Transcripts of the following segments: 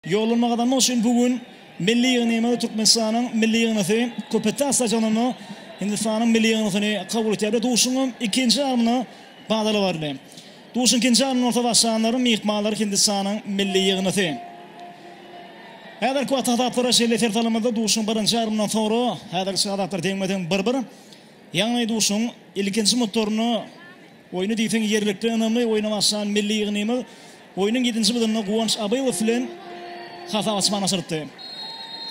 Ýollanyma gazanmak üçin bu gün milli ýygnymyz Türkmenistanyň milli ýygnasy Köpetdag stadionynda Hindistanyň milli ýygnasyny kabul etýär we duşuň ikinji ýarymyna badalga berildi. Duşuň ikinji ýarymynda bolsa başlanlar myhmanlar Hindistanyň milli ýygnasy. Häzirki wagtky hasaplara şeýle ser salamyzda duşuň birinji ýarymyndan soňra häzirki çyg hasaplar teňme-teň bir-bir. Ýagny duşuň ilkinji minutlarynda. Oýny diýseň ýerlikli ynamly oýna başlan milli ýygnymyz oýnuň ýedinji bölüminde Guwanç Abylow bilen hasap açmany başarypdy.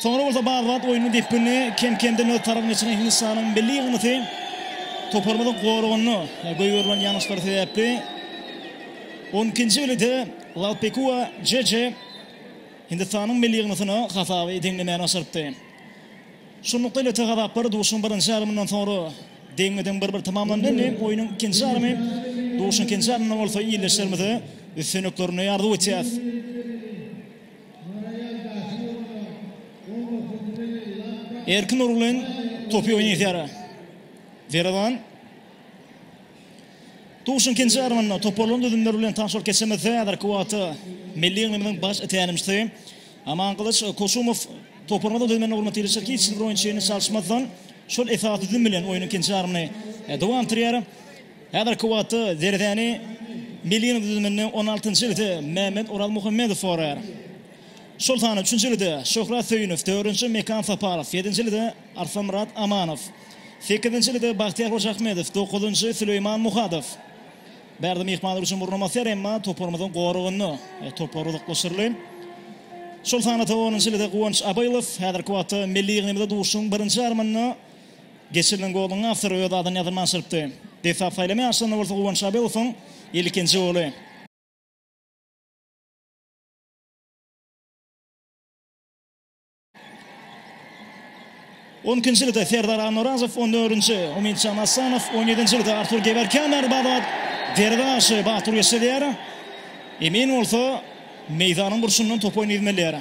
Soňra bolsa bazz wagt oýnuň depginini kem-kemden öz tarabyna geçiren Hindistanyň milli ýygnysy toparymyzyň goragynda goýberilen ýalňyşlary sebäpli on ikinji belede Lalpekua Jeje Hindistanyň milli ýygnysyna hasaby deňlemäni başarypdy. Şunlukda Lete gazaplary duşuň birinji ýarymyndan soňra deňme-deň bir-bir tamamlandy. Indi oýnuň ikinji ýarymy duşuň ikinji ýarymynda bolsa ildeşlerimize üstünliklerini arzuw etýäs. Erkin Nurgulyn topy oýnaýar. Derewan. Duşuň ikinji ýarymynda toparlaryň düzümleri bilen tanyşyp geçemizde, häzirki wagtda milli ýygymymyzyň baş tälimçisi Amangylyç Koşumow toparymyzyň düzüminde bolmadyk ýerleşýär. Hiç hili bir oýunçyny çalyşmazdan, şol esasy düzüm bilen oýnuň ikinji ýarymyny dowam etdirýär. Häzirki wagtda derezäni milli ýygymyň düzüminde on altynjy ýerde Mämmet Orazmuhammedow goraýar. Şol sanda üçünji ýerde Şöhrat Söýünow, dördünji Mekan Saparow, ýedinji ýerde Arslonmyrat Amanow. Sekizinjiligide Bagtyýar Hojaahmedow, dokuzynjy, Süleýman Muhadow. Bärde myhmanlar üçin orun amasyar, emma toparymyzyň goragynda toplar uzaklaşdyryldy. Şol sanada onunjyligide Guwanç Abylow. Häzirki wagtda milli ýygnymyzda duşuşygyň birinji ýarymynda geçirilen goluň awtory öz adyny ýazylman çyrypdy. Desga saýlama ýaryşlarynda bolsa Guwanç Abylowyň ilkinji goly. On ikinjiligde Serdar Annaorazow, on dördünji Umytjan Assanow, on ýedinjiligde Artur Gewerkýan bärbabat derwe garşy batur geçdi diýýär. Emin bolsa meýdanyň burçundan top oýnadymel diýýär.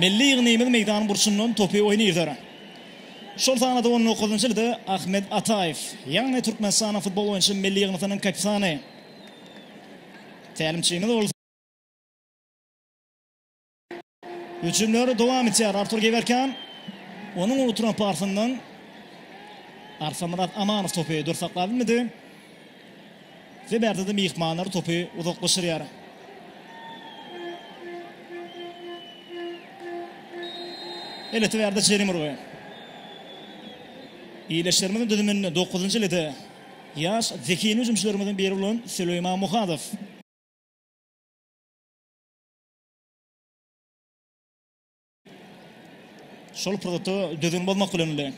Milli ýygnymyz meýdanyň burçundan topy oýnadar. Şol sanda-da on dokuzynjyligde Ahmet Ataýew, ýagny Türkmenistanyň futbol boýunça milli ýygnasynyň kapitany. Tälimçimiz bolsa. Hüjümler dowam etýär. Artur Gewerkan. Onuň oturan pasyndan Arsamyrat Amanow topy dur saklap bilmedi. Ve bärde de myhmanlar topy uzaklaşyrýar. Eleti bärde jerime urgy. Iýleşlerimiziň düzüminde 9-njy elede ýaş zehinli hüjümçilerimiziň biri bolan Süleýman Muhadow. Şol pursatda düzgün bozmak bilen bilen.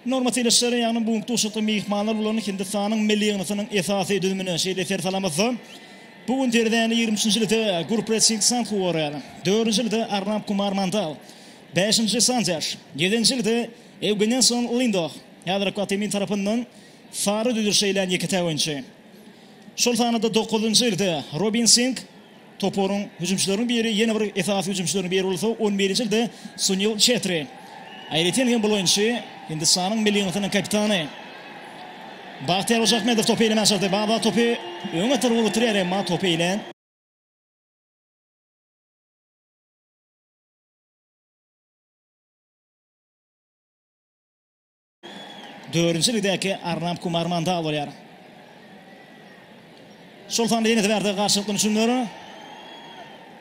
Norma telaşlary ýagny bu duşakda mehmanlar bulan Hindistanyň milli ýygnasynyň esasy düzümine şeýle ser salamazsa. Bu gün terzäni 23-nji lite Gurpret Singh Sandhu gorýar. 4-nji lite Arnab Kumar Mandal. 5-nji Sandesh. 7-nji lite Ewgenenson Lindoh. Häzirki wagtda emin tarapyndan sary düzüş eýlän ýeke-täk oýunçy. Şol sanda-da dokuzynjy ýylda Robin Sing toparyň hüjümçileriniň biri, ýene bir esasy hüjümçileriniň biri bolsa, on birinji ýylda Sunil Çetri. Aýratyn hem bul oýunçy Hindistanyň milli ýygyndysynyň kapitany Bahtiýar Hojaahmedow topy eýlemän çykdy. Baba topy öňe tarap ugrukdyrýar, emma topy eýlän. Dördünji ligdäki Arnab Kumar Mandal bolýar. Şol sanda ýeňiji bärde garşylykly hüjümler.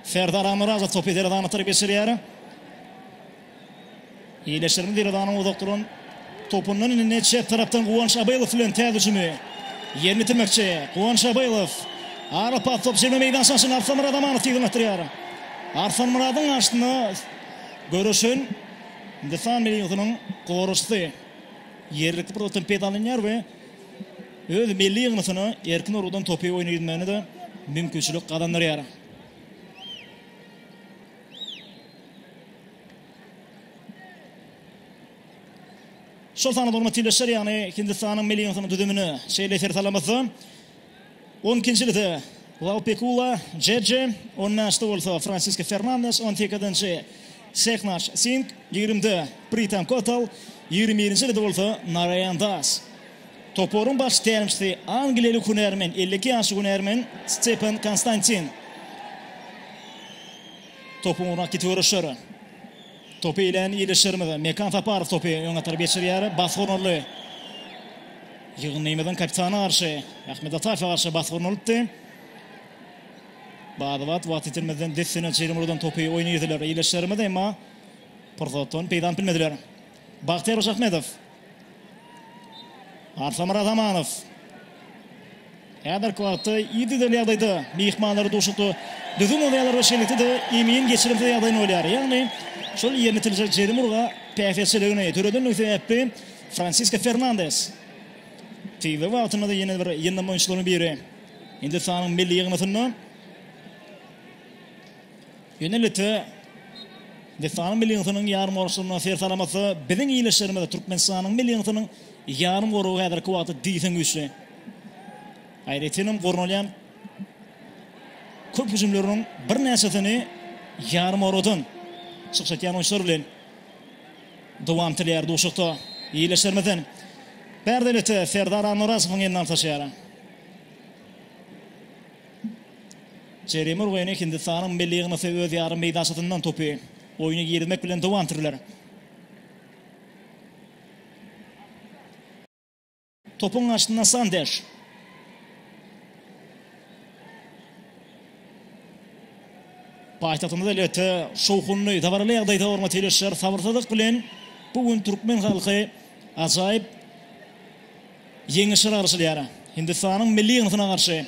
Serdar Ammyrazow topy Deredana tarap geçirýär. Iýleşdirme Deredanyň uzak duran topundan indi çep tarapdan Guwanç Abylow bilen täze hüjümi ýerine ýetirmekçi. Guwanç Abylow ara pas top jemle meýdança aşyna Arslanmyrat Amanow tigizlendirýär. Arslanmyradyň garşysyna göreşen Hindistan milliýetiniň goragçysy ýerlikli pursatdan peýdalanýar we öz milli ýygnasyna erkin urgudan topy oýna gitmegine-de mümkinçilik gazandyrýar. Şol sanda bolma tebileşer, ýagny Hindistanyň milli ýygnasynyň düzümine şeýle ser salamyzda, On ikinjide Laupekula, Jeje, on bäşde bolsa Fransiske Fernandes, on sekizinji Seknaç Sing, ýigrimde Pritam Kotal, ýigrimi birinjide bolsa Naraýan Das. Toparyň baş tälimçisi angliýaly hünärmen, elli iki ýaşly hünärmen Stepan Konstantin. Topuň ugruna ket göreşer. Topy iýlen ildeşlerimiz Mekan Saparow topy öň atar geçirýär. Basgurnaly ýygyndymyzyň kapitany garşy Ahmet Ataýewe garşy basgurnalypdy. Bada-bat wagt ýitirmezden dessine çyzymurdan topy oýna girdiler ildeşlerimiz, emma pursatdan peýdalanyp bilmediler. Bagtyýar Hojaahmedow Arslanmyrat Amanow. Häzirki wagtda ididel ýagdaýda myhmanlary duşakda düzgün bolýarlar we şeýlelikde-de emin geçirimsiz ýagdaýyny bolýar. Ýagny şol ýerine itiljek jerim urga päsgelçiligini döredendigi sebäpli Fransisko Fernandes tizden wagtynda-da ýene bir ýyndam oýunçylaryň biri Hindistanyň milli ýygyndysynda Ýöne Lite Listanyň milli ýygyndynyň ýarymgoragçylaryndan ser salamasa, biziň ildeşlerimiz Türkmenistanyň milli ýygyndynyň ýarymgoragy häzirki wagtda diýseň güýçli. Aýratyn hem gurnalýan köp hüjümleriniň birnäçesini ýarymoragdan çykyş etýän oýunçylar bilen dowam etdirýär duşakda ildeşlerimizden. Bärde Lite Serdar Annaorazowyň elinden taşýar. Jeremi urgyny Hindistanyň milli ýygnasy öz ýarym meýdançasyndan topy oýna girizmek bilen dowam etdirdiler. Topuň garşysynda Sandeş. Paýtagtymyzda elbetde şowhunly, dabaraly ýagdaýda hormatly ildeşler, sabyrsyzlyk bilen bu gün türkmen halky ajaýyp Ýeňiş ylalaşylýar. Hindistanyň milli ýygyndysyna garşy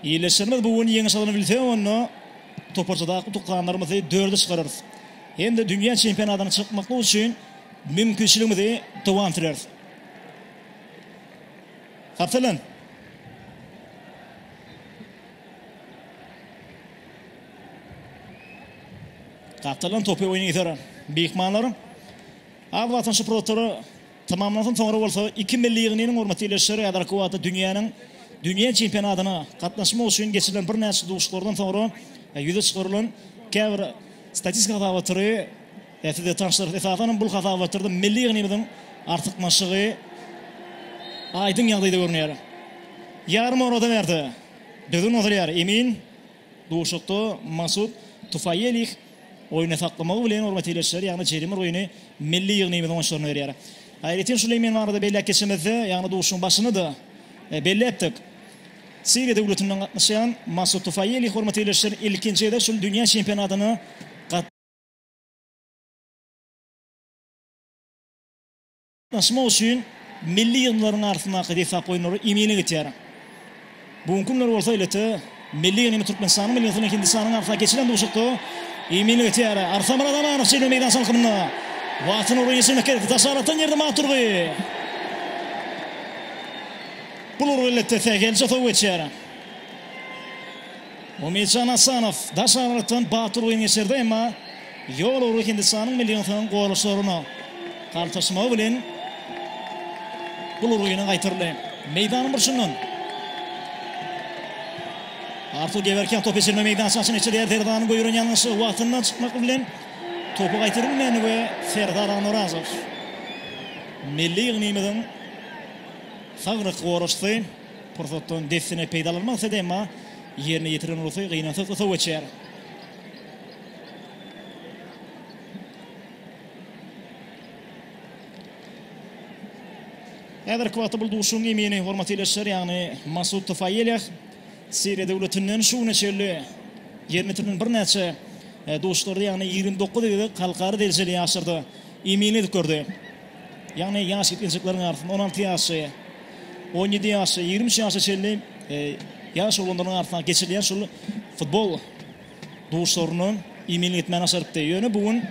ýerleşýärmiz. Bu gün ýeňiş alany bilsek, onda toparçadaky utukhanlarymyzy dörde çykararys hem-de dünýä çempionatyna çykmaklyk üçin mümkinçiligimizi dowam süreris. Kapitalan! Kapitalan topy oýna iter. Myhmanlar az wagtdan şu protory Tamamlansyn, soňra bolsa iki milli ýygyndynyň hormaty ile Şeriada Kuwata dünýäniň dünýä çempionatyna gatnaşmak üçin geçirilen birnäçe duşuşyklardan soňra ýüze çykarylan käbir statistik hasabatlary size tanyşdyrarys. Esasan hem bul hasabatlarda milli ýygyndymyzyň artykmaçlygy aýdyň ýagdaýda görünýär. Ýarym orada bärde, düzgün bozulýar. Emin. Duşuşykda Masud Tufaýelih oýny saklamagy bilen urgy tireçleri, ýagny jerime urgyny milli ýygnymyzyň oýunçylaryna berýär. Aýratyn şuly men barada belläp geçemizde, ýagny duşuşygyň başynda-da belläpdik, Siriýa döwletinden gatnaşýan Masud Tufaýelih urgy tireçleri ilkinji gezek şul dünýä çempionatyna Daşamak üçin milli ýygyndylaryň arasyndaky desgap oýunlary emine geçýär. Bu günki günler bolsa ilata milli ýygyndy Türkmenistanyň milli ýygyndy bilen Hindistanyň arasyndaky geçirilen duşuşykda emine geçýär. Arsaman Atamanow çeper meýdança alkymynda Wagtyny ugry geçirmek gerek. Daş aralykdan ýerde Mamat Durgy. Bu urgy ilata sähelçe sow geçýär. Umidjan Asanow daş aralykdan batyr oýun geçirdi, emma ýol ugry Hindistanyň millionsoň goraçlaryna galtaşmagy bilen bul ugry ýene gaýtaryldy. Meýdanyň burçundan Artur Gewerkýan topy geçirme meýdançasyna çykyar, Serdaryň göýüren ýalňyşy wagtyndan çykmak bilen topy gaýtarylmady we Serdar Anurazow milli ýygnymyzyň sag goraçysy. Pursatdan dessine peýdalanmak isledi, emma ýerine ýetiren ursy gynansaz usa göçýär. Häzirki wagtda bu duşuşygyň emini, hormatly ildeşler, ýagny Masud Tufaýeleh Siriýa döwletinden şu güne çenli ýerine ýetirilen birnäçe duşuşlarda, ýagny ýigrimi dokuz gezek halkara derejesini ýaşyrdy, eminlik edip gördi. Ýagny ýaş ýetginjekleriň arasynda on alty ýaşy, on ýedi ýaşy, ýigrimi üç ýaşa çenli ýaş oglanlaryň arasyndaky geçirilýän şul futbol duşlaryna iýmitlik etmäni başarypdy. Ýöne bu gün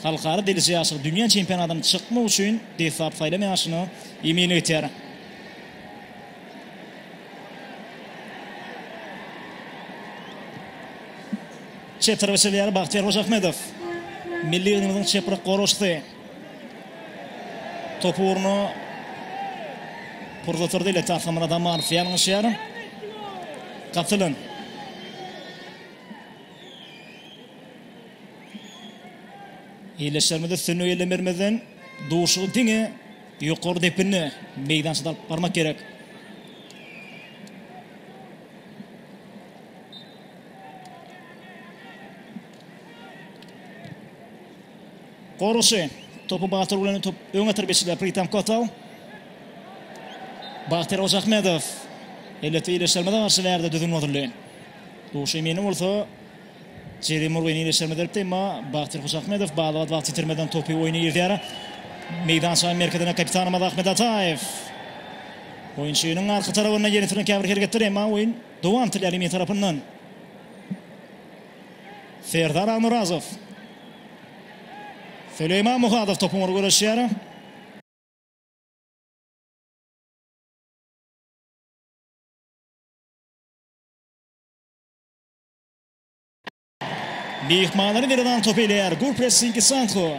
halkara dereje ýaşyna, dünýä çempionatyna çykmak üçin deslap saýlan ýaşyna iýmitlik etýär. Çepdiriş edýär Bagtyýar Hojaahmedow. Milli ýygyndymyzyň çepbir goraşçysy topu ugruna pursat berdi. Ile Tahgamyrat Amanow ýalňyşýar. Gatylan. Ildeşlerimize üstünlik eýlän bermezden duşugy diňe ýokary depinde meýdança alyp barmak gerek. Goroşy. Topy Bagtyr bilen top öňe terbiýeçiler Pritam Kotal. Bagtyr Ojahmedow. Elbetde iýleşermede garşy bärde düzgün bozuldy. Duşy meni bolsa Jeri Murgyn iýleşerme beripdi, emma Bagtyr Hojakmedow balabat wagt ýitirmeden topy oýna girizýär. Meýdançanyň merkezine kapitanymyz Ahmet Ataýew. Oýunçynyň arka tarapynda ýene süren käbir hereketler, emma oýun Dowam Tilaliýew tarapyndan Serdar Agmyrazow. Süleýman Muhadow topuň ugruna göreşýär. Myhmanlary Miridan topy eýleýär. Gol pressingi Sanko.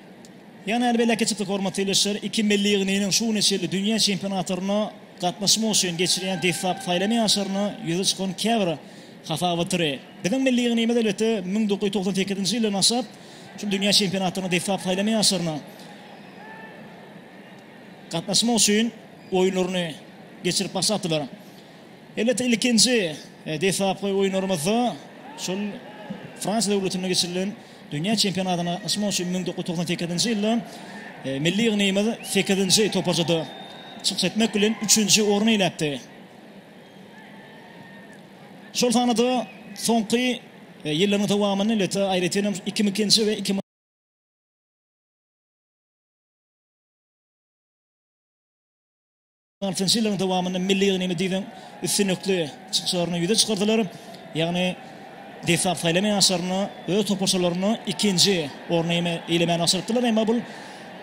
Ýene hälbi elek geçipdik hormatly ildeşler, iki milli ýygnynyň şu güne çenli dünýä çempionatlaryna gatnaşmak üçin geçirýän deslapky saýlama ýaşlaryna ýüze çykan käbir hasabatlary. Biziň milli ýygnymyz elbetde müň dokuz ýüz togsan sekizinji ýyldan başlap şul dünýä çempionatlaryna deslapky saýlama ýaşlaryna gatnaşmak üçin oýunlaryny geçirip başlapdylar. Elbetde ilkinji deslapky oýunlarymyzda şol Fransiýa döwletinde geçirilen Dünýä çempionatyna gatnaşmak üçin müň dokuz ýüz togsan sekizinji ýylda milli ýygnygymyz sekizinji toparçada çykyş etmek bilen, üçünji orny eýläpdi. Şol sanda-da soňky ýyllaryň dowamynda elbetde aýratyn hem iki müň ikinji we iki müň. Altynjy ýyllaryň dowamynda milli ýygyndyny diýseň üstünlikli çykyşlaryny ýüze çykardylar. Ýagny desgap saýlamaýan ýaşlaryna öz toparçalaryna ikinji orny eýlemäni başarypdyrlar. Emma bul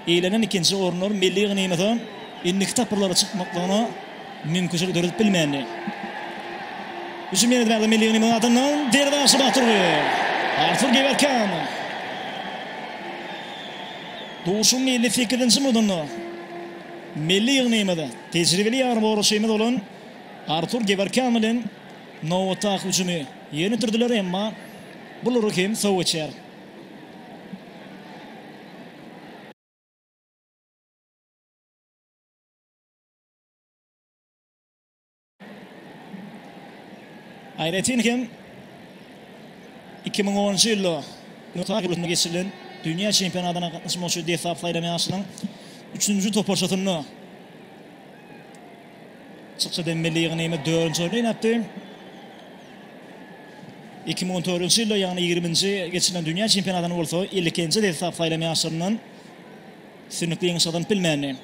eýlenen ikinji orunlar milli ýygyndymyza indiki tapgyrlara çykmaklygyna mümkinçilik döredip bilmändi. Hüjüm ýene däli milli ýygyndymyzyň adyndan derwaýşy Baturgy. Artur Gewerkan. Duşuň 58-nji minutynda Milli ýygnymyza tejribeli ýarbawaçymyz bolan Artur Gewerkýan bilen nobatdaky hüjümi ýönetirdiler, emma bulary hem sow geçer. Aýratyn hem, iki müň onunjy ýylda Nyu-Ýork ýurdunda geçirilen dünýä çempionatyna gatnaşmak üçin dessalp saýlan ýaşlaryň üçünji toparçasynda çykyş eden milli ýygyndymyz dördünji orny eýläpdi. Iki müň on dördünji ýylda, ýagny ýigriminji geçirilen dünýä çempionatyna bolsa ilkinji dessalp saýlan ýaşlaryndan Sünnükli ýeňiş gazanyp bilmändi.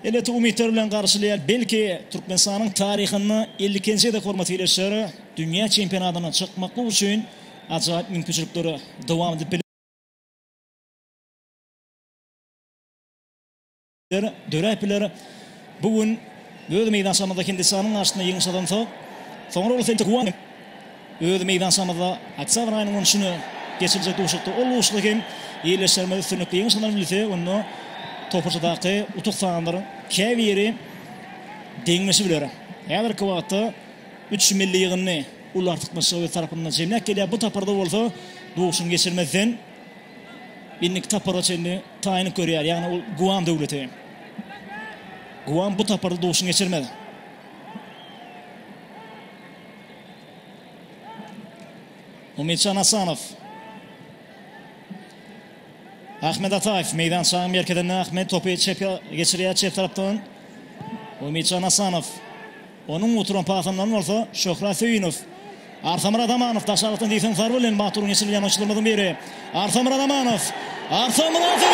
Elbetde umytlar bilen garşylaýar. Belki Türkmenistanyň taryhynda ilkinji gezek hormat geleşer. Dünýä çempionatyna çykmaklyk üçin ajaýyp mümkinçilikler dowam edip biler. Döräp biler. Bu gün öz meýdançamyzda Hindistanyň garşysynda ýeňiş gazansak, soňra bolsa Öz meýdançamyzda oktýabr aýynyň on üçüne geçiriljek duşuşykda ol duşuşygy hem ýerleşdirmegi üstünlikli ýeňşalan bilse, onda toparçadaky utuk sanlaryň käbiri deňleşip biler. Häzirki wagtda üç milli ýygyndy uly artykmaçlygy öz tarapynda jemläp gelýär. Bu saparda bolsa duşuşygy geçirmezden, indiki sapara çenli taýynlyk görýär, ýagny ol Guam döwleti. Guam bu saparda duşuşygy geçirmez. Umytjan Asanow. Ahmet Ataýew meýdançanyň merkezinde Ahmet topy çepä geçirýär çep tarapdan. Umytjan Asanow. Onuň uturan pasyndan bolsa Şöhrat Söýünow. Arsamyrat Amanow daşarykdan diýseň zarba bilen Batur geçirilýän oýunçylarymyzyň biri. Arslan Myradamanow. Arslan Myradowa!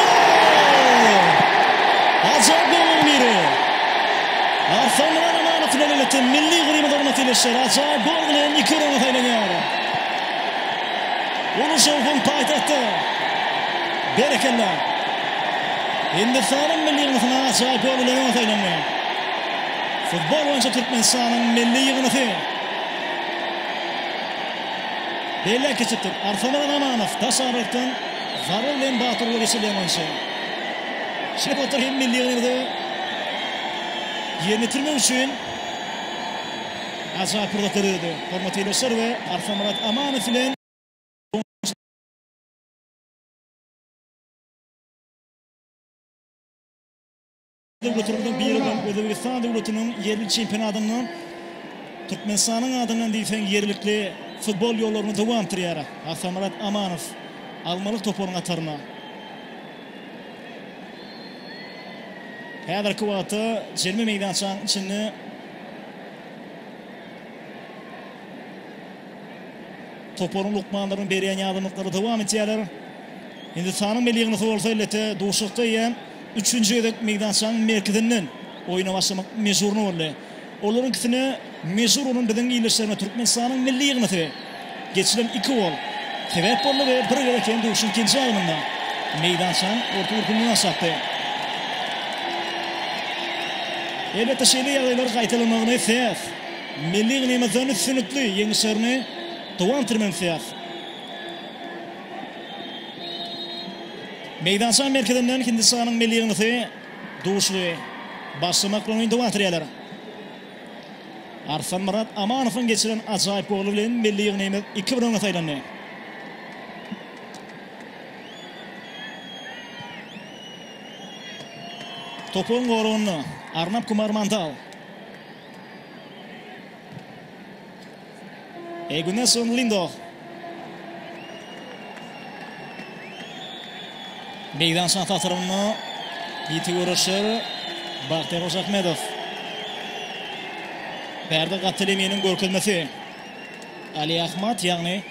Ajaýyp gollaryň biri. Arslan Myradamanow bilen birlikde milli grimiz orna tirleşýär. Ajaýyp gol bilen iki ýüregiňe saýlanýar. Uly şowhun paýtagtda. Berekella. Hindistanyň milli ýygnasyna ajaýyp gol bilen öňe saýlandy. Futbol boýunça Türkmenistanyň milli ýygnaty. Beýleki çytyr, Arslanbek Amanow daş aralikden zarba bilen Batyr Weliçi Lemançy. Şeýle pursatlary hem milli ýygnagymyzda ýerine ýetirmek üçin ajaýyp pursat döredýär. Hormatly ildeşler we Arslanmyrat Amanow bilen Döwletlerimiziň biri bolan Özbegistan döwletiniň ýerli çempionatynda Türkmenistanyň adyndan diýseň ýerlikli futbol ýollaryny dowanpdyrýar Atamyrat Amanow almalyk toparyň hataryna. Häzirki wagtda jerime meýdançanyň içinde toparyň lukmanlarynyň berýän ýardamlyklary dowam edýärler. Hindistanyň milli ýygyndysy bolsa elbetde duşuşykda eýýäm Üçünji gezek meýdançanyň merkezinden oýuna başlamak mejburyna boldy. Olaryňkisine mejbur bolan biziň ildeşlerimiz Türkmenistanyň milli ýygnasy geçilen iki gol sebäp boldy we bir gezek hem duşuň ikinji ýarymynda meýdançanyň orta gürpünden aşakdy. Elbetde şeýle ýagdaýlar gaýtalanmagyny isleýäs. Milli ýygnymyzdan üstünlikli ýeňişlerini dowam etdirmegini isleýäs. Meýdança merkezinden Hindistanyň milli ýygyndysy duşly başlamak bilen oýunda batyryýalar. Arslanmyrat Amanowyň geçiren ajaýyp goly bilen milli ýygynyýmyz iki bir öňe saýlandy. Topuň goragynda Arnap Kumar Mandal. Eguneson Lindo. Meýdançanyň tatarynda ýiti göreşer Bagtyýar Hojaahmedow. Berdi Gapteleminiň görkezmesi. Ali Ahmad, ýagny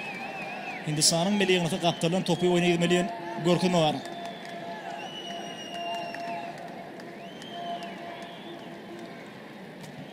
Hindistanyň milli ýygyndysyna gapdalyň topy oýna gitmeli görkezme bar.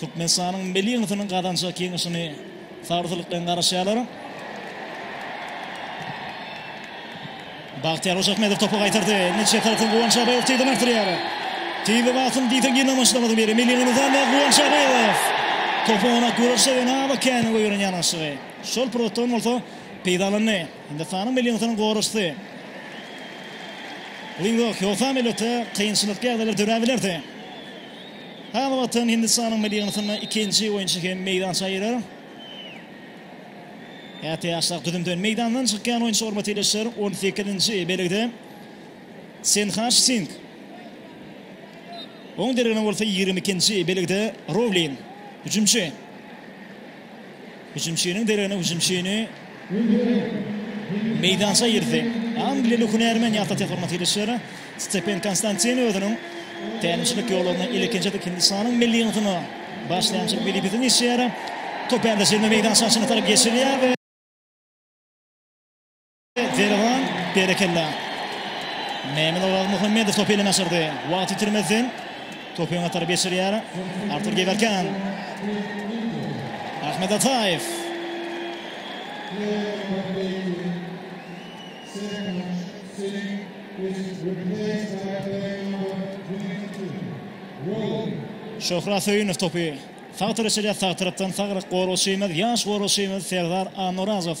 Türkmenistanyň milli ýygyndysynyň gazanjak ýeňişini sabyrsyzlyk bilen garaşýarlar. Bagtyýar Hojaahmedow topy gaýtardy. Netije tarapyn Guwanç Abaýew tizden artdyrýar. Tiz wagtyň diýseň ýene maşgalamyzyň biri milli ýygyndymyzdan Guwanç Abaýew. Topu oňa göreşe we naba käni goýberen ýanaşygy. Şol pursatdan bolsa peýdalandy. Hindistanyň milli ýygyndysynyň goraçysy Lingdok Hýosam elbetde kynçylykly ýagdaýlar döräp bilerdi. Häli wagtam Hindistanyň milli ýygyndysynda ikinji oýunçy hem meýdança girer. Käte ýaşrak düzümden meýdandan çykýan oýunçy hormat ýerleşer. On sekizinji belgide Senhaş Sing. Oň deregine bolsa ýigrimi ikinji belgide Rowlin, hüjümçi. Hüjümçiniň deregine hüjümçini meýdança girdi. Angliýaly hünärmen ýa-da tehormat ýerleşýär. Stepen Konstantin özüniň tälimçilik ýollaryny ilkinji Hindistanyň milli ýygyndyna başlaýançylyk wezipesini geçýär. Top ende jemi meýdançanyň içine tarap geçilýär we. Derwan berekella. Mehmet Oraz Muhammedow topu eline aşyrdy. Wagt itirmezden topu öňe tarap geçirýär. Artur Gewerkan. Ahmet Ataýew. Şöhra Söýünow topu sag tarap içirýär, sag tarapdan sagryk goragçymyz, ýaş goragçymyz Serdar Annorazow.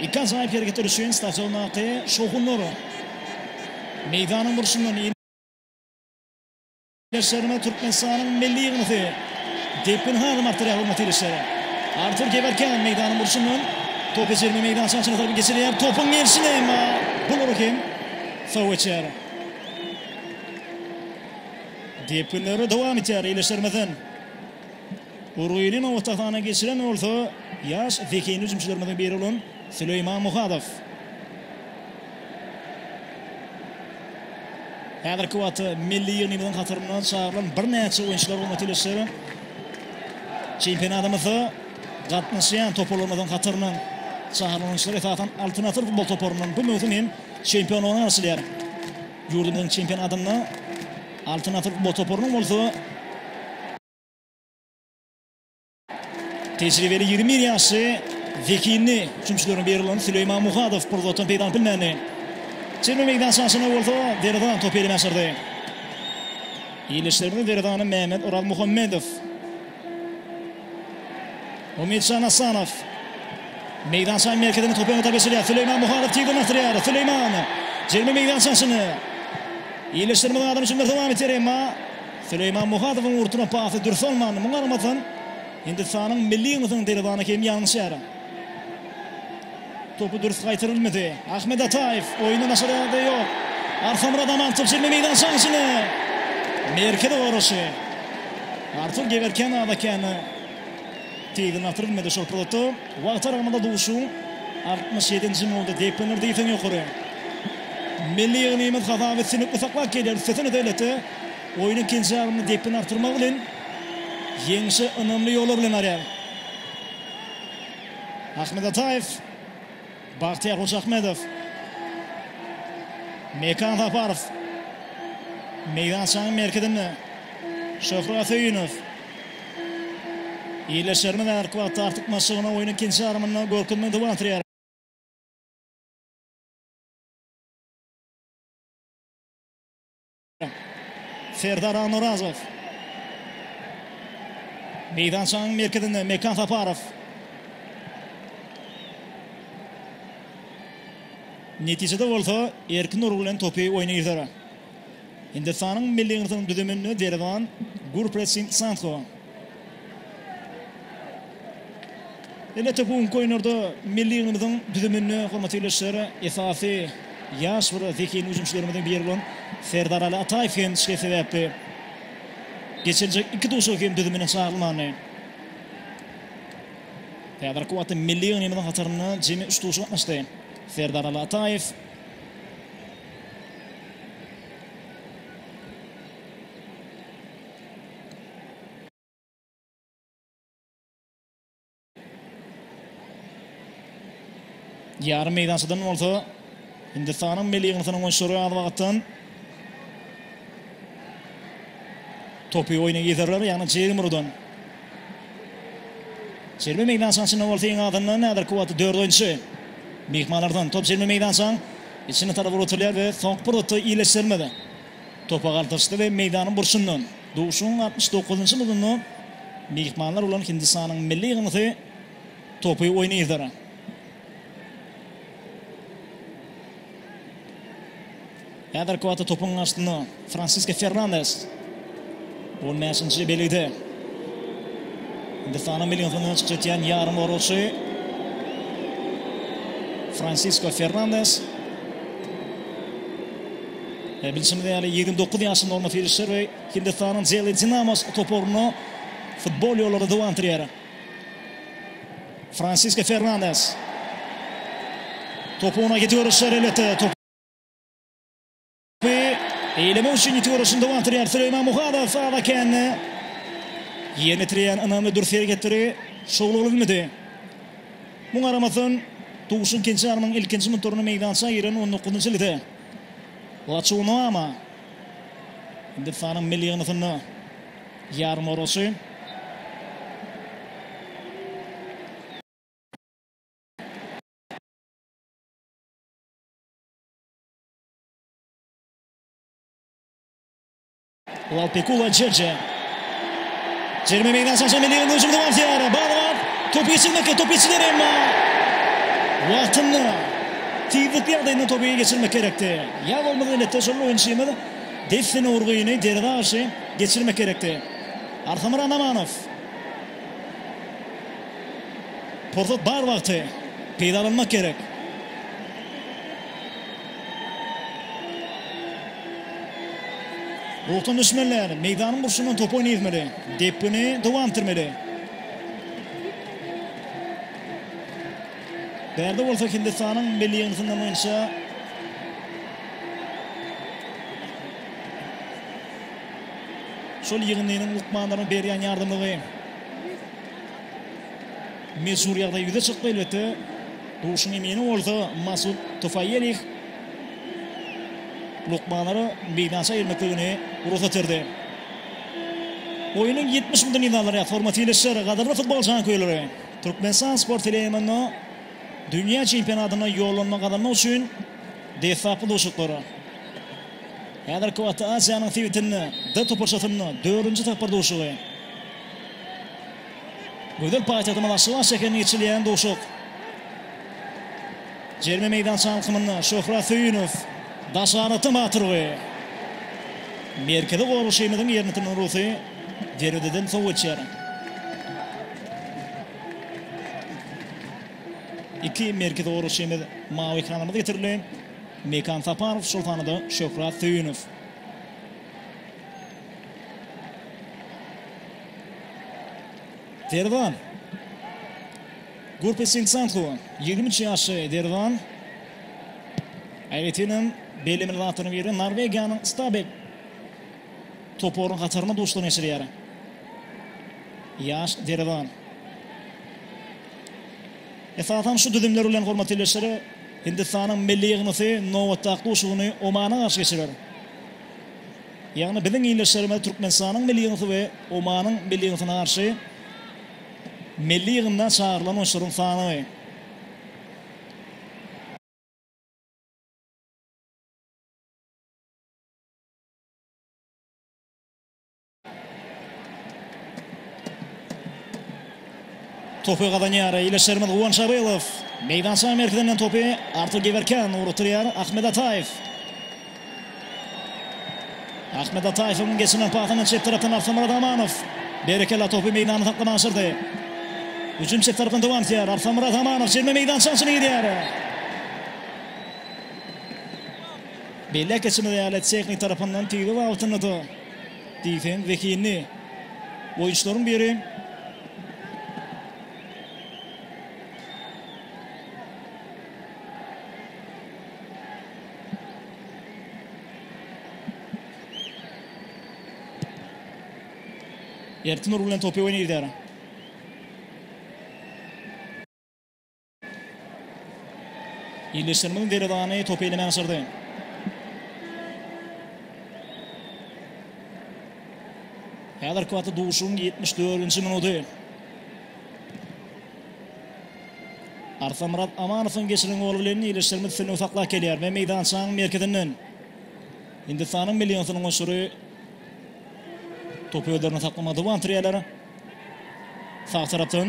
Iki ajaýyp hereketler üçin stadiondaky şowhunlar meýdanyň burçundan Ýerleşýärmi Türkmenistanyň milli ýygmasy depgin hanym Arturýa hormat ilişýär. Artur Gewerken meýdanyň burçundan topy jerime meýdançasyna tarap geçirýär. Topuň gelşine emma bulara hem sow geçýär. Depginler dowam etýär. Ýerleşýärmizden Urgyny nobatahana geçiren bolsa, ýaş zehinli hüjümçilerimiziň biri bolan Süleýman Muhadow. Häzirki wagtda milli ýygnymyzyň hataryndan çagyrylan birnäçe oýunçylar gurmat ýylyşdyr. Çempionatymyzda gatnaşýan toparlarymyzyň hataryndan çagyrylan oýunçylar esasan Altyn asyr futbol toparyndan bu möwsüm hem çempionlygyna garaşylýar. Ýurdumyzyň çempionatynda Altyn asyr futbol toparynyň bolsa tejribeli ýigrimi bir ýaşly zehinli hüjümçilerine berilýän Süleýman Muhadow bir zatdan peýdalanyp bilmändi. Çemre meýdançasyna bolsa Derezan topy eline aşyrdy. Ýerleşdirdi Derezany Mehmet Orazmuhammedow. Umytjan Assanow meýdançanyň merkezine topy öňe tarap geçirýär. Süleýman Muhadow tizden asdyrýar. Süleýman jerime meýdançasyny ýerleşdirmediň adam üçin dowam etýär, emma Süleýman Muhadowyň urturan pasy dürs bolmandy. Muňa garamazdan, Hindistanyň milli ýygnasynyň derwezany Kemi ýalňyşýar. Topy dürs gaýtarylmady. Ahmet Ataýew oýundan daşary ýagdaý ýok. Arkamyrat Amantow çenli meýdan şansini. Merkezi goraşy. Artur Gewerken Adakeni tizinden atyr bilmedi şol pursatda. Wagt aralygynda duşuň 67-nji minuty depginler diýseň ýokary. Milli ýygnymyz hasaby üstünlikli saklap gelýär. Üstesine-de elbetde oýnuň ikinji ýarymynda depgini artdyrmak bilen ýeňişe ynamly ýola bilen barýar. Ahmet Ataýew. Bagtyýar Hojaahmedow. Mekan Saparow. Meýdançanyň merkezinde Şöhrat Söýünow. Ildeşlerimiz häzirki wagtda artykmaçlygyna oýnuň ikinji ýarymynda görkezmegi dowam etdirýärler. Serdar Anurazow. Meýdançanyň merkezinde Mekan Saparow. Netijede bolsa Erkin urgy bilen topy oýna girder. Hindistanyň milli ýygyndysynyň düzüminde derwan Gurpret Singh Sandho. Elbetde bu günki oýunlarda milli ýygnymyzyň düzüminde hormatly ildeşler esasy ýaş bir zehin hüjümçilerimiziň biri bolan Serdaraly Ataýew hem şikes sebäpli geçiriljek iki duşuşyga hem düzümine çagyrylmandy. Häzirki wagtda milli ýygnymyzyň hatarynda jemi üç duşuşyk gatnaşdy. Serdaraly Ataýew Ýarym meýdançadan bolsa Hindistanyň milli ýygyndysynyň oýunçylary az wagtdan topy oýna girerler, ýagny JM Rudan. Jerime meýdançanyň içinde bolsa iň azyndan häzirki wagtda dört oýunçy myhmanlardan top jerime meýdançanyň içine tarap ugrutylýar we soňky pursatda iýleşdirilmedi. Topa galtaşdy we meýdanyň burçundan duşuň altmyş dokuzynjy minutynda myhmanlar bolan Hindistanyň milli ýygyndysy topy oýna yzar. Häzirki wagtda topuň garşysynda Fransisko Fernandes. On bäşinji belgide Hindistanyň milli ýygyndyna çykyş etýän ýarymgoragçy Fransisko Fernandes. E, bilşimiz ýaly 29 ýaşynda Orma Filişer we Hindistanyň Jeli Dinamos toparyna futbol ýollary dowandyrýar. Fransiska Fernandes. Topuna gidiyor işler elbette. Top Ýa-da eýlemek üçin ýiti görüşini dowam etdirýär Süleýman Muhadow sala kände ýerine ýetirýän ynamly dürs hereketleri şowly bolup bilmedi. Muňa garamazdan, Duşun Kençanowyň ilkinji minutlarynda meýdança giren on dokuzynjy ýylgyrdy. Waçuw Nuama, Hindistanyň milli ýygyndysynda ýarymoragçy. Lalpekula Jeje. Jerime meýdan şaşan milli hüjüm dowam etýär. Barbar topu geçirmekde, top geçiler emma wagtynda tizlikli ýagdaýynda topu geçirmek gerekdi. Ýa bolmasa netde şol oýunçymyz dessine urgyny derýa garşy geçirmek gerekdi. Arkamyrat Amanow. Pursat bar wagty peýdalanmak gerek. Ruhdan düşmänler meýdanyň burçundan top oýnayzmaly. Depgini dowam etdirmeli. Bärde bolsa Hindistanyň milli ýygyndysyndan oýunça şol ýygyndynyň lukmanlarynyň berýän ýardamlygy mejbur ýagdaý ýüze çykdy elbetde. Duşuň emini bolsa Masud Tufaýelih lukmanlara meýdança girmekligini rugsat berdi. Oýnuň ýetmiş minutynda nizalaryat formaty ýerleşer. Gadyrly futbol janköýerleri, Türkmenistan sport teleýaýlymynda dünýä çempionatyna ýollanma gazanmak üçin deslapky duşuşyklar. Häzirki wagtda Aziýanyň sebitinde D toparçasynda dördünji tapgyr duşuşygy. Gözel paýtagtymyz Aşgabat şäherinde geçirilýän duşak jerime meýdança alkymynda Şöhrat Söýünow, Daşarata batyr we Merkezi Goraşymyzyň ýeriniň rusy derwezeden sow geçýär. Iki merkezi goraşymyz mawy ekranymyza getirildi. Mekan Saparow, şol sanda Şöhrat Söýünow. Derwan. Gurpe Sing Sanhu, ýigrimi üç ýaşly Derwan aýratynam bellemeli zatlaryň biri Norwegiýanyň Stabæk toparynyň hatarynda duşuşyk geçirýär. Ýaş Derwan. Esasan şu düzümler bilen hormatly ildeşler Hindistanyň milli ýygyndysy nobatdaky duşuşygyny Omana garşy geçirer. Ýagny biziň ildeşlerimiz Türkmenistanyň milli ýygyndysyna we Omanyň milli ýygyndysyna garşy milli ýygynda çagyrylan oýunçylaryň sany. Topy gazanýar ildeşlerimiz Guwanç Abylow. Meýdança merkezinden topy Artur Gewerkýan ugrukdyrýar. Ahmet Ataýew. Ahmet Ataýewiň geçirilen pasyny çep tarapdan Arslanmyrat Amanow. Berekella topy meýdanda saklama başardy. Hüjüm çep tarapdan dowam etýär. Arslanmyrat Amanow çizme meýdançanyň içine girýär. Belläp geçmeli ýaly, tehnik tarapyndan tiz wagtynda-da Diýseň zehinli oýunçylaryň biri. Erkin urgy bilen topy oýna gider. Ýerleşdirmegiň derwezany topy eleme başardy. Häzirki wagtda duşuşygyň 74-nji minuty. Arsamyrat Amanowyň geçiren goly bilen ýerleşdirme üstünligi saklap gelýär we meýdançanyň merkezinden Hindistanyň milli ýygyndysynyň oýunçylary topy özlerinde saklamaga dowam etdirýärler. Sag tarapdan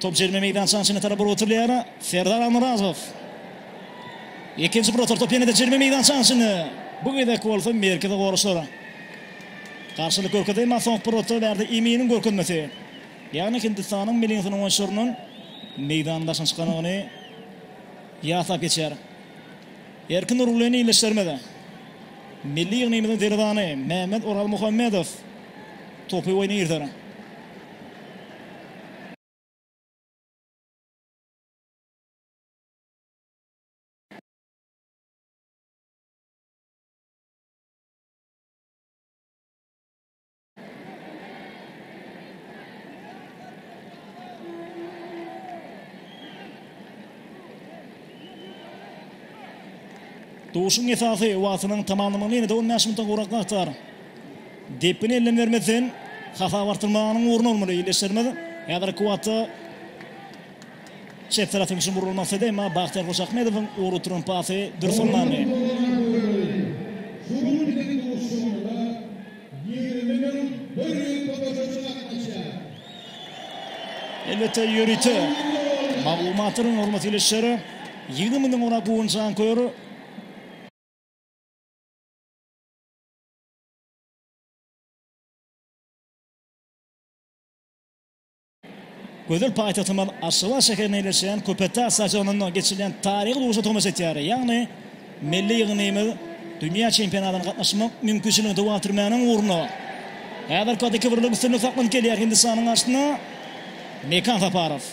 Top jerime meýdançaň içine tarap urup oturylýar. Serdar Almyrazow. Ikinji bir otar top ýene-de jerime meýdançaň içinde. Bu gezek bolsa merkezi goraçlar garşylyk görkezdi, emma soňky bir otar bärde Eminiň görkezmesi, ýagny Hindistanyň Millingtonyň oýunçylarynyň meýdanyň daşyna çykandygyny ýatlap geçýär. Erkin Nurgulyny ildeşlerimiz milli ýygnymyzyň derwezany Mehmet Oralmuhammedow topy oýna girder. ýaşaýarlar. Duşuşygyň esasy wagtynyň tamamlanmagyna ýene-de on bäş minutdan gowrak wagt bar. Depgini elden bermezden hasap artdyrmagynyň orny bolmaly ildeşlerimiz. Häzirki wagtda çep tarapdan üçin vurgul maksady, emma Bagtyýar Hojakmedowyň ugry turan pasy dürs Elbetde ýörite maglumatlaryň hormatly ildeşleri ýigrimi müňden gowrak guwan janköýer Gözel paýtagtymyz Aşgabat şäherinde ýerleşýän Köpetdag stadionynda geçirilýän taryhy duşa tomaşa etýär. Ýagny milli ýygnymyz dünýä çempionatyna gatnaşmak mümkinçiligini dowam etdirmäniň ugrunda häzirki wagtda iki birlik üstünlik saklanyp gelýär Hindistanyň garşysynda Mekan Saparow.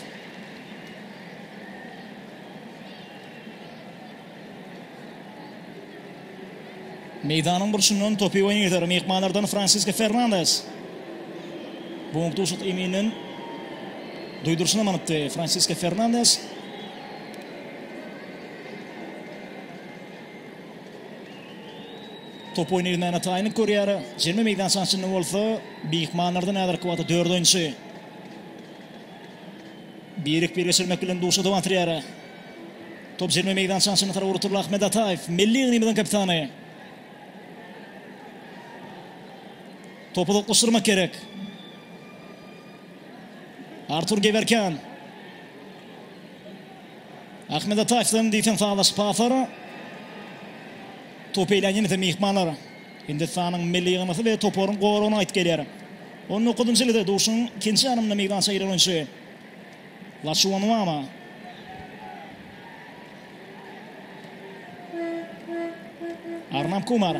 Meýdanyň burçundan topy oýnar myhmanlardan Fransisko Fernandes. Bong duşuşyk emininden duýduryşyny manypdy Fransisko Fernandes. Top oýny gitmäne taýynlyk görýär. Jerime meýdança içinde bolsa myhmanlardan häzirki wagtda dört oýunçy. Birik bir geçirmek bilen duşuşyk dowam etdirýär. Top jemi meýdançanyň çynyna tarap ugratyldy. Ahmet Ataýew, milli ýygnymyzyň kapitany. Topy uzaklaşdyrmak gerek. Artur Gewerkýan. Ahmet Ataýewden diýseň sazlaşyk pasary. Topy eýlän ýene-de myhmanlar. Hindistanyň milli ýygnasy we toparyň goragyna gaýdyp gelýär. On dokuzynjy ýylyda duşuň ikinji ýarymynda meýdança giren oýunçy. Laçuwanuama. Arnab Kumar.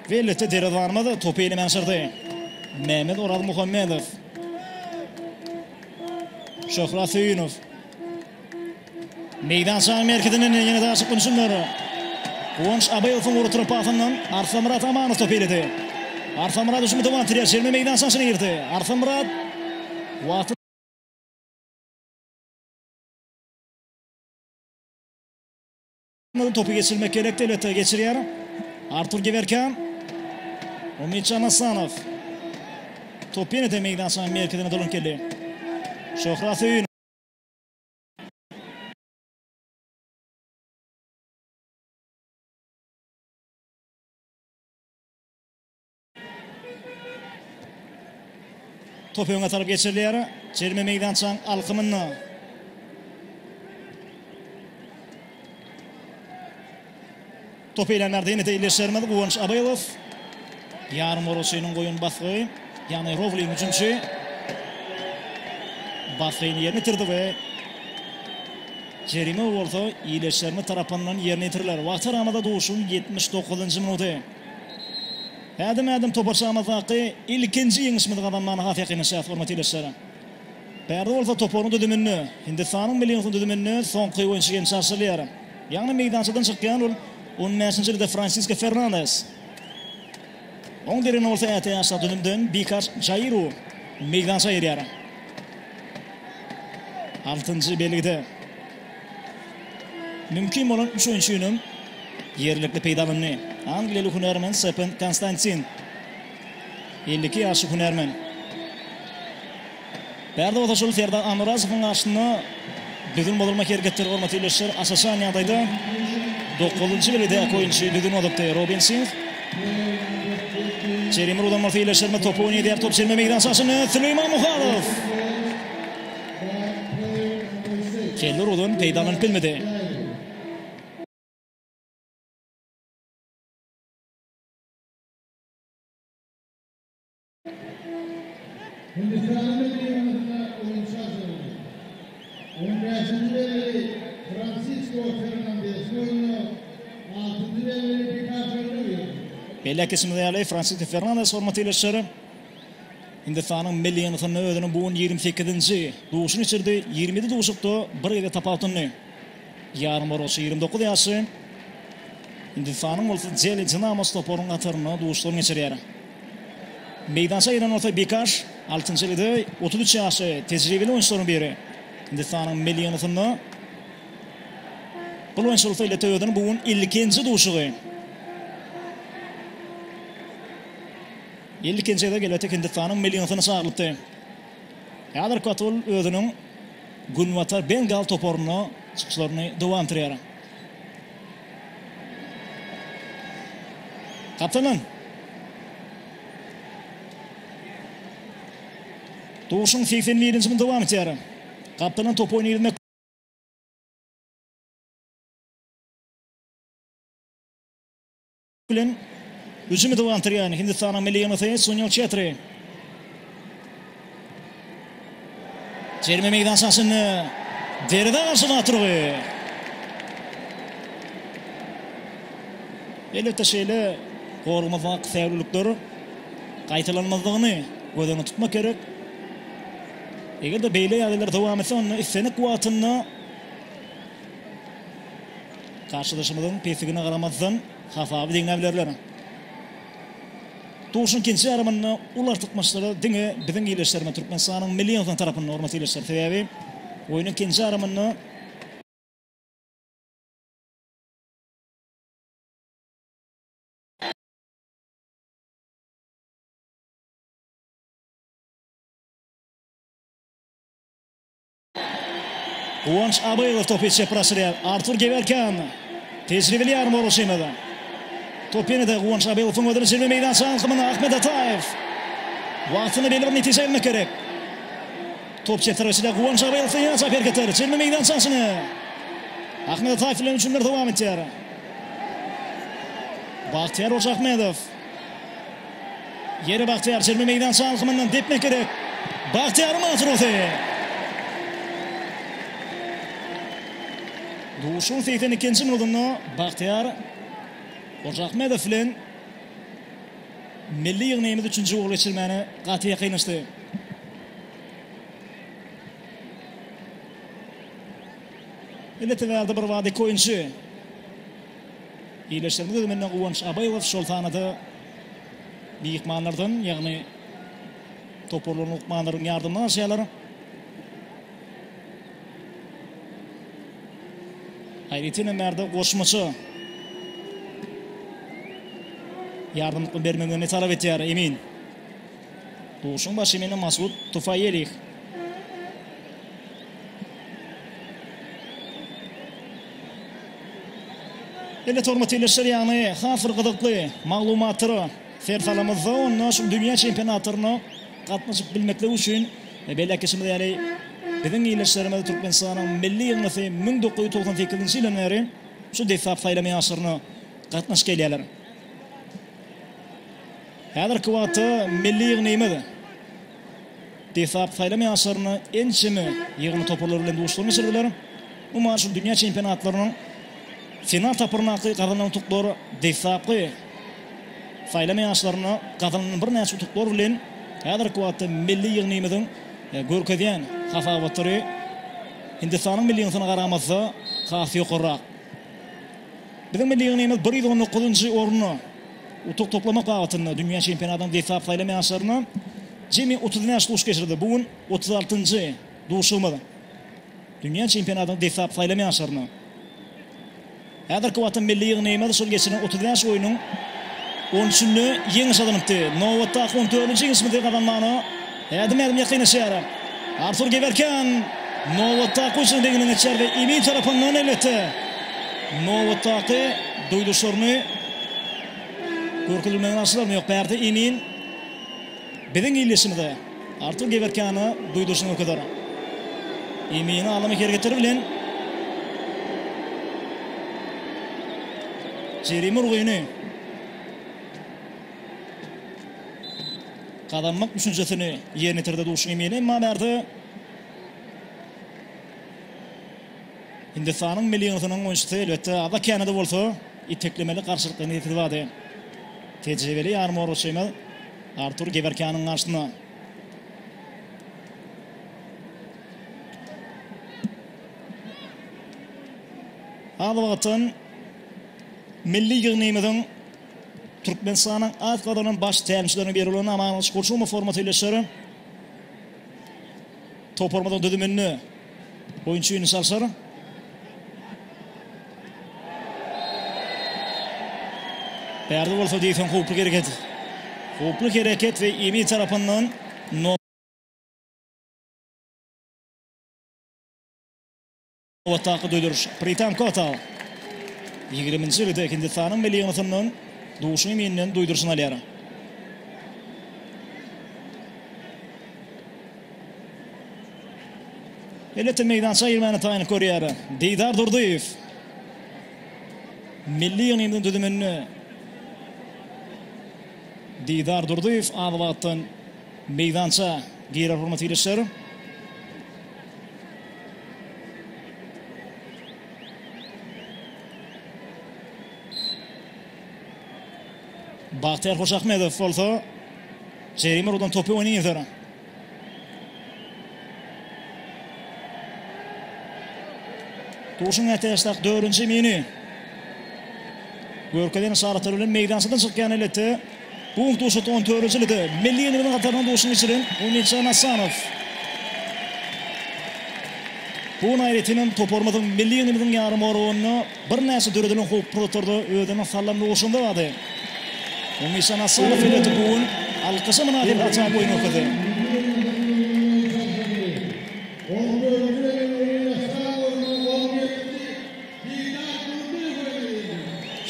We elbetde derwezarymyz topy elime aşyrdy. Mehmet Orazmuhammedow. Şöhrat Söýünow. Meýdançanyň merkezinden ýene daşyp ünjümler. Guwanç Abaýewiň urduryp pasyndan Arslanmyrat Amanow topy eledi. Arslanmyrat hüjümi dowam etdirýär. Çelme meýdançanyň içine girdi. Arslanmyrat wagty topy geçirmek gerekdi elbetde geçirýär. Artur Gewerkan. Umytjan Hasanow. Top ýene-de meýdançanyň merkezine dolanyp geldi. Şöhrat Söýün Top öňe tarap geçirilýär. Çerme meýdançaň alkymynda. Top eýlänlerde ýene-de ildeşlerimiz Guwanç Abaýewow. Ýarymgoragçynyň goýan basgy, ýagny Rowling hüjümçi basgyny ýerine ýetirdi we jerime bolsa ildeşlerimiz tarapyndan ýerine ýetiriler. Wagty aramyzda duşuň ýetmiş dokuzynjy minuty. Ädim-ädim toparçamyzdaky ilkinji ýeňişimizi gazanmagyna has ýakynlaşýarys, hormatly ildeşler. Bärde bolsa toparyň düzüminde Hindistanyň milli ýygyndysynyň düzüminde soňky oýunçy gelşi aşyrylýar. Ýagny meýdançadan çykýan ol on bäşinji ýylda Fransisko Fernandes. Oň deregine bolsa äti ýaşdaky düzümden Bikaş Jaýru meýdança girýär. Altynjy belgide mümkin bolan üç oýunçyny ýerlikli peýdalandy. Angliýaly hünärmen Sepen Konstantin. Elli iki ýaşly hünärmen. Bärde bolsa şol Serdar Amyrazowyň garşysynda düzgün bozulma hereketleri bolmasy ýerleşýär. Asajan ýagdaýda dokuzynjy biledäki oýunçy düzgün bozulypdy. Robin Sins jerime ulanmasy ýerleşýär. Topu oýun edýär. Top jerime meýdan çaşynda Süleýman Muhadow. Kelli urgudan peýdalanyp bilmedi. Beýläk geçmez ýaly, Fransisko Fernandes hormatly ildeşler, Hindistanyň milli ýygyndysynda özüniň bu gün ýigrimi sekizinji duşuny geçirdi. Ýigrimi ýedi duşakda bir gezek tapawutlandy. Ýarymoragçy ýigrimi dokuz ýaşly Hindistanyň bolsa Deli Dinamos toparynyň hatarynda duşuşygyny geçirýär. Meýdança giren bolsa Bikaş, altynjy bede otuz üç ýaşly tejribeli oýunçylaryň biri. Hindistanyň millionasynda bul oýunçy bolsa LTÖ-niň bu gün ilkinji duşuşygy. Ilkinji gezek elbetde Hindistanyň millionasyna çagyrylypdy. Häzirki wagt ol özüniň Günbatar Bengal toparynda çykyşlaryny dowam etdirýär. Kaptanan! Duşuň segsen birinji gün dowam etýär. Kaptanan top oýny ýerine. bilen hüjümi dowam etdirýän Hindistanyň milli ýygyndy Sunil Çetri. Jerime meýdançasynda derwezä garşy zat urgy. Elbetde şeýle goragymyz wagt säwlilikleri gaýtalanmazlygyny göz öňünde tutmak gerek. Eger-de beýle ýagdaýlar dowam etse, onda islendik wagtynda Garşydaşymyzyň pesigine garamazdan, hasaby deňläbilerler. Duşuň ikinji ýarymynda uly artykmaçlygy diňe biziň ildeşlerimiz, Türkmenistanyň milli ýygyndysynyň tarapynda, hormatly ildeşler. Sebäbi oýnuň ikinji ýarymynda. Guwanç Abaýew topy çepara aşyrýar. Artur Gewerken, tejribeli ýarym orunçymyz. Top ýene-de Guwanç Abaýewiň özüne jemi meýdança alkymynda Ahmet Ataýew. Wagtynda belli bir netije gelmek gerek. Top çep tarapyna Guwanç Abaýewiň ýene çap hereketleri jemi meýdança içine. Ahmet Ataýew bilen hüjümler dowam edýär. Bagtyýar Hojaahmedow. Ýeri Bagtyýar çelme meýdança alkymyndan depmek gerek. Bagtyýaryň maşrusy. Duşuň segsen ikinji minudynda Bagtyýar Hojaahmedow bilen milli ýygnagymyz üçünji gol geçirmäne gaty ýakynlaşdy. Ine, TVR-da bir wagt iki oýunçy. Birleşigimiz düzüminde Guwanç Abaýew şol sanda myhmanlardan, ýagny toparlaryň lukmanlaryň ýardamyny alşýarlar. Aýratyn hem bärde goşmaça ýardam bermegini talap etýär Emin. Duşuň başy meni Masud Tufaýelih. Elbet hormatly ildeşler ýagny has bir gyzykly maglumatdyr ser salamyzda onda şul dünýä çempionatlaryna gatnaşyp bilmeklik üçin belli ätgeşimiz ýaly biziň ildeşlerimiz Türkmenistanyň milli ýygyndysy müň dokuz ýüz togsan sekizinji ýyldan bäri şu desgap saýlama ýaryşlaryna gatnaşyp gelýärler. Häzirki wagtda milli ýygnymyz. Dessalap saýlama ýaşlarynda ençeme ýygyndy toparlary bilen duşuşyklary geçirdiler. Umuman şu dünýä çempionatlarynyň final tapgyryndaky gazanan utuklary deslapky saýlama ýaşlarynda gazanan birnäçe utuklar bilen häzirki wagtda milli ýygnymyzyň görkezýän hasabatlary Hindistanyň milli ýygyndysyna garamazda has ýokarrak. Biziň milli ýygnymyz bir ýüz on dokuzynjy orny utuk toplamak babatynda dünýä çempionatynyň desgap saýlama ýaşlaryna jemi otuz bäş duş geçirdi. Bu gün otuz altynjy duşumyz. Dünýä çempionatynyň desgap saýlama ýaşlaryna häzirki wagtda milli ýygnymyz şol geçirilen otuz bäş oýnuň on üçünde ýeňiş gazanypdy. Nobatdaky on dördünji ýeňişimizi gazanmagyna Ädim-ädim ýakynlaşýar. Artur Gewerkýan nobatdaky hüjümiň deňinden geçýär we Imi tarapyndan elbetde nobatdaky duýdurşlaryny görkezilmegini alşylarmy ýok bärde Imin biziň ildeşimize Artur Gewerkýana duýdurşyny görkezer. Imini alamy hereketleri bilen jerime urgyny gazanmak düşünjesini ýerine ýetirdi duşuşyk emini. Emma bärde Hindistanyň milli ýygyndysynyň oýunçysy elbetde aza-känede bolsa iteklemeli garşylyklaryny ýetirdi bady. Tejribeli ýarymoragçymyz Artur Gewerkýanyň garşysyna. Az wagtdan milli ýygnymyzyň Türkmenistanyň at gazanan baş tälimçileriniň biri bolan Amangylyç Gurçumow hormat elleşýär. Toparymyzyň düzüminde oýunçy ýüni çalşar. Bärde bolsa diýseň howply hereket. Howply hereket we Emi tarapyndan no Otdaky düwdüriş Pritam Kota ýigriminji ýylda Hindistanyň milli ýygyndysyndan Duşy Minden duýduryşyny alýar. Elbetde meýdança girmäne taýynlyk görýär Didar Durdyýew. Milli ýygnymyzyň düzüminde Didar Durdyýew az wagtdan meýdança girer hormat ilçiler. Bagtyýar Hojaahmedow bolsa jerime ugrundan topy oýny ýeser. Duşuň ätiýaçdaky dördünji mini. Görkezen yşaratlar bilen meýdançadan çykýan elbetde. Bu gün duşuşykda on töwerejilik milli ýeňijileriniň hatarynda duşuň geçiren Umidjan Assanow Bu gün aýratynam toparymyzyň milli ýeňijimiziň ýarymoragynda birnäçe döredilen howply pursatlarda özüniň sallamly urşunda bardy. Umidjan Assanow elbetde bu gün alkyşa mynasyp ajaýyp oýun görkezdi.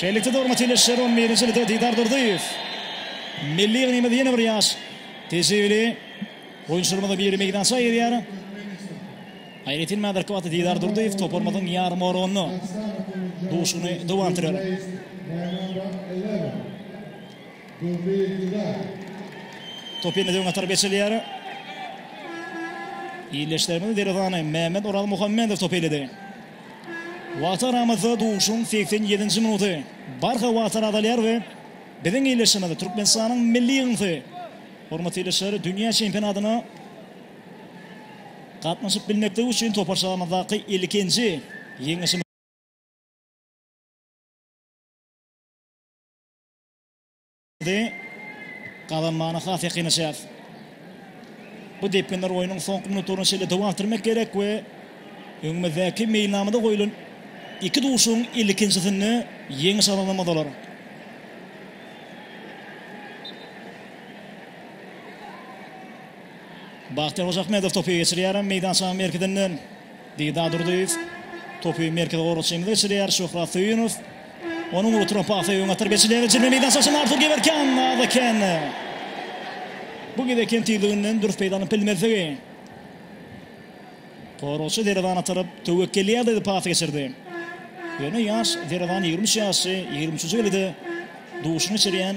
Şeýlelikde, hormatly ildeşler, on birinji ýylda Didar Durdyýew milli ýygnymyzda ýene bir ýaş tejribeli oýunçylarymyzyň biri meýdança girýär. Aýratyn hem häzirki wagtda Didar Durdyýew toparymyzyň ýarymoragynda duşuny dowam etdirýär. Top ýene-de öňe tarap geçirilýär. Ildeşlerimiziň derwezany Mehmet Orazmuhammedow topy eýledi. Wagta garamazda duşuň segsen ýedinji minuty barha wagtal azalýar we biziň ildeşimiz, Türkmenistanyň milli ýygyndysy, hormatly ildeşler, dünýä çempionatyna gatnaşyp bilmekdigi üçin toparçamyzdaky ilkinji ýeňişimiz. Indi gazanmana has ýakynlaşýarys. Bu depginler oýnuň soňky minutlaryna çenli dowam etdirmek gerek we öňümizdäki meýilnamada goýlan iki duşuşygyň ilkinjisinde ýeňiş gazanmalydylar. Bagtyýar Hojaahmedow topy geçirýär meýdançanyň merkezinden. Dida Durdyýew topy merkezi goragçymyza geçirýär. Şöhrat Söýünow. Onuň uly tropy Afey öňe atar. Beşi level çirme meýdança aşan Artur Gewerkýan az eken. Bu gezek hem tizliginden dürs peýdalanyp bilmezligi. Goragçy derwezany tarap töwekgelýärdi pas geçirdi. Ýöne ýaş derwezany ýigrimi üç ýaşly, ýigrimi üçünji gezek-de duşuna geçirýän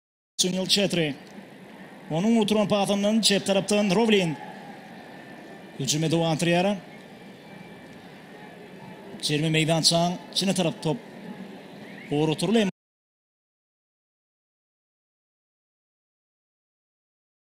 Sunil Çetri. Onuň oturan pasyndan çep tarapdan Rowlin. Hüjüme dowam etdirýär. Jerime meýdançaň içine tarap top ugratyrly.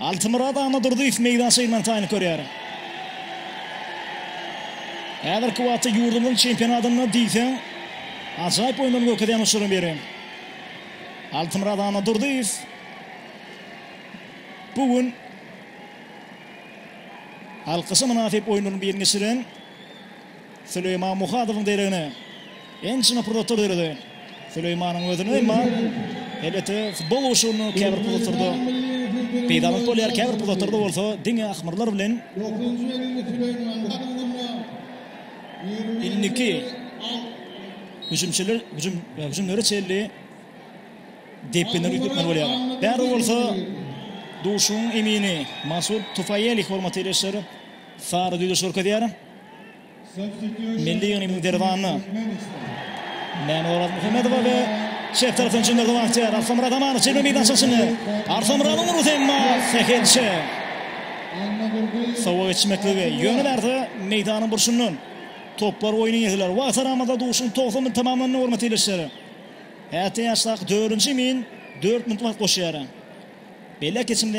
Altymyrat Annadurdyýew meýdan şeýlman taýyny görýär. Häzirki wagtda ýurdumyzyň çempionatynda diýseň ajaýyp oýunlaryny görkezýän oçlaryň biri. Altymyrat Annadurdyýew bu gün alkyşa mynasyp oýunlaryň birini geçiren Süleýman Muhadowyň deregine ençeme pursatlar döredi. Süleýmanyň özüne, emma elbetde futbol gurşawynda käbir pursatlarda peýdalylyk bolýar, käbir pursatlarda bolsa diňe ahmyrlar bilen indiki hüjümçiler hüjüm hüjümlere çenli depginleri üýtgetmeli bolýar. Bäri bolsa duşuň emini Masud Tufaýelih hormaty ile işleri sary düýdeşik görkezýär. Milli ýygynymyzyň derwany Mäne Orazmuhammedowa we çep tarapdan çykan wagtýar Arslanmyrat Amanow çeper meýdança çyny. Arslanmyradyň urusy emma sähelçe. Sowa geçmekligi ýöne bärde meýdanyň burçundan toplar oýny ýetiler. Wagt aramada duşuň 90 minut tamamlandy hormatly ildeşler. Häzirki ýaşdaky 4-nji min 4 minut wagt goşýar. Belek geçimde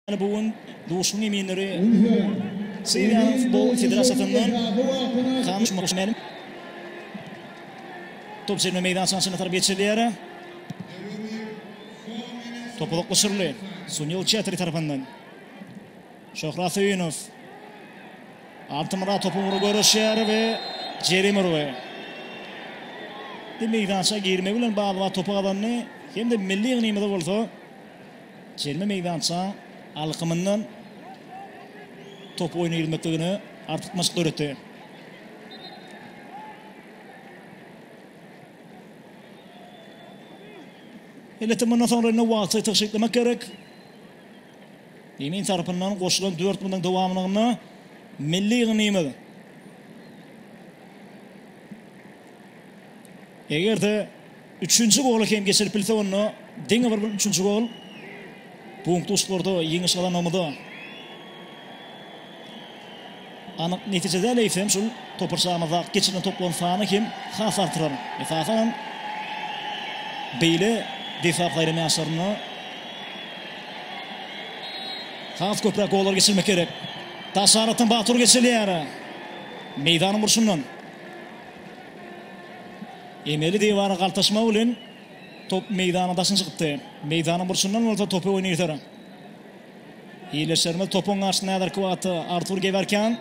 Bu gün duşuň eminleri Siriýanyň futbol federasiýasyndan Kanuş Muşmeli. Top jerime meýdançasyna çenli tarap geçirilýär. Top uzaklaşyryldy. Sunil Çetri tarapyndan. Şöhrat Söýünow. Altymyrat topu ugra görüşýär we jerime urgy. Meýdança girmegi bilen bagly topu gazandy. Hem-de milli ýygnymyza bolsa Çelme meýdançaň alkymyndan top oýuna girmekligine artykmaçlyk döretdi. Elbetde mundan soňra indi wagty tygşytlamak gerek. Emin tarapyndan goşulan 4 minutyň dowamlygynda milli ýygnymyz eger-de Üçünji gola hem geçilip bilse onda diňe bir bu üçünji gol bu duşlarda ýeňiş gazanmamyza anyk netije däl eýsem şul toparçamyzda geçirilen toplaryň sany hem has artyrar. Esasan hem beýle defap gaýry ýaşlarynda has köpräk gollar geçirmek gerek. Daşaratdan Batur geçilýär. Meýdanyň burçundan. Emeli diwara galtaşmagy bilen top meýdanyň daşyna çykypdy. Meýdanyň burçundan bolsa topy oýna ýeter. Ildeşlerimiz topuň garşysyna häzirki wagtda Artur Gewerkýan,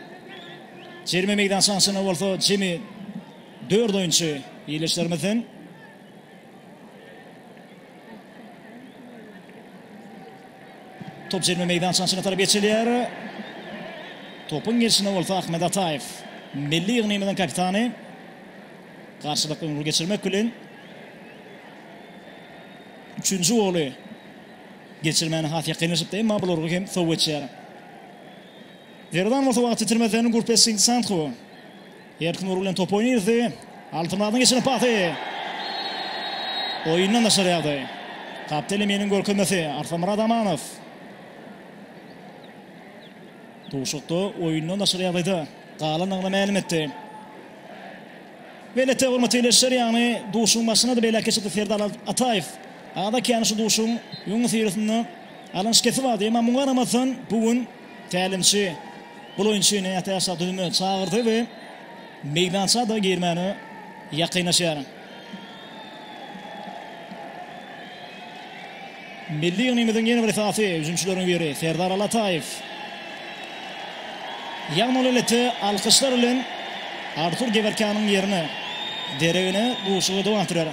jerime meýdançasynyň içinde bolsa jemi dört oýunçy ildeşlerimizden. Top jerime meýdançasynyň içine tarap geçilýär. Topuň gelşinde bolsa Ahmet Ataýew, milli ýygnymyzyň kapitany. Garşylyk öňe geçirmek bilen, üçünji goly geçirmäne has ýakynlaşypdy, emma bul urgy hem sow geçýär. Zerdan bolsa wagt ýitirmezden Gurpes Singsanthu erkin urgy bilen topy oýna girdi. Altymyradyň geçiren pasy oýundan daşary ýagdaý. Kapteleminiň görkezmesi Arslanmyrat Amanow. Duşakda oýundan daşary ýagdaýda. galanyny mälim etdi. Beýle töwir muteýleşer ýagny duşuň başynada beýläk geçipdi Serdar Ataýew. Ada kän şu duşuň öňüs ýerisinde alan şikesi bardy. Emma muňa garamazdan bu gün tälimçi bul oýunçyny ätiýaçda düzüme çagyrdy we meýdança-da girmäne ýakynlaşýar. Milli ýygnymyzyň ýene bir esasy hüjümçileriň biri Serdar Allataýew. Ýagny ol elbetde alkyşlar bilen Artur Gewerkanyň ýerine, deregine duşuşygy dowam etdirer.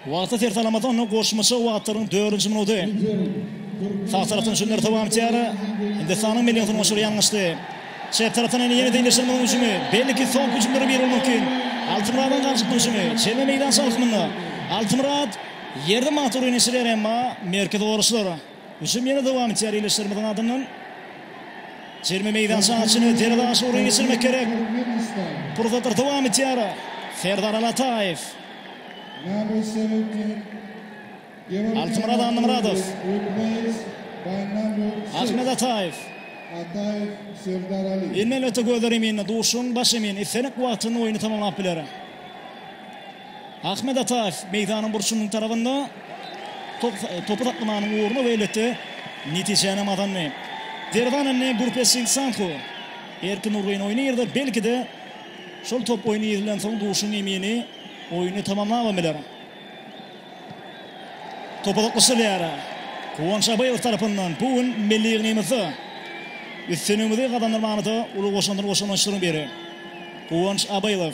Wagty ter salamadan goşmaça wagtlaryň dördünji minudy. Sag tarapdan Junior Tawamtyara Hindistanyň milli hüjümçileri ýalňyşdy. Çep tarapdan ene ýene deňleşdirmegiň hüjümi. Belki soňky hüjümlere bir bolmak mümkin. Altymyradyň ganjykly hüjümi. Çelme meýdança alkymynda. Altymyrat ýerde matur oýun geçirýär, emma merkezi goraçlar. Hüjüm ýene dowam etýär ildeşlerimiziň adyndan. Jerime meýdança içine derwaza garşy gurşun geçirmek gerek. Pursatlar dowam etýär. Serdar Alataýew. Altymyrat Annamyradow. Ahmet Ataýew. Indi elbetde gözler eminde, duşuň baş emin, islendik wagtynda oýny tamamlap biler. Ahmet Ataýew meýdanyň burçunyň tarabynda topy saklamanyň ugruna we elbetde, netijänem gazandy. Derwanenni Burpesing Santhu Erkin Nurgyn oýny girdi. Belki-de, şol top oýny girilensoň Duşun Emini oýny tamamlabam biler. Top uzaklaşdyrylýar. Guwanç Abaýew tarapyndan bu gün milli ýygnymyzda üstünligimizi gazandyrmagymyza uly goşandyny goşan oýunçylaryň biri Guwanç Abaýew.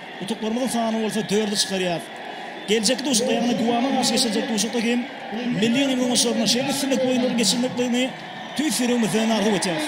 Utuklarymyzyň sany bolsa dördi çykarýar. Geljekki duşakda ýagny Guama garşy geçiriljek duşakda hem milli ýygyndyň oňaşylaryna şeýle üstünlikli oýunlaryň geçirilmekligini tüýs ýüregimizden arzuw etýäris.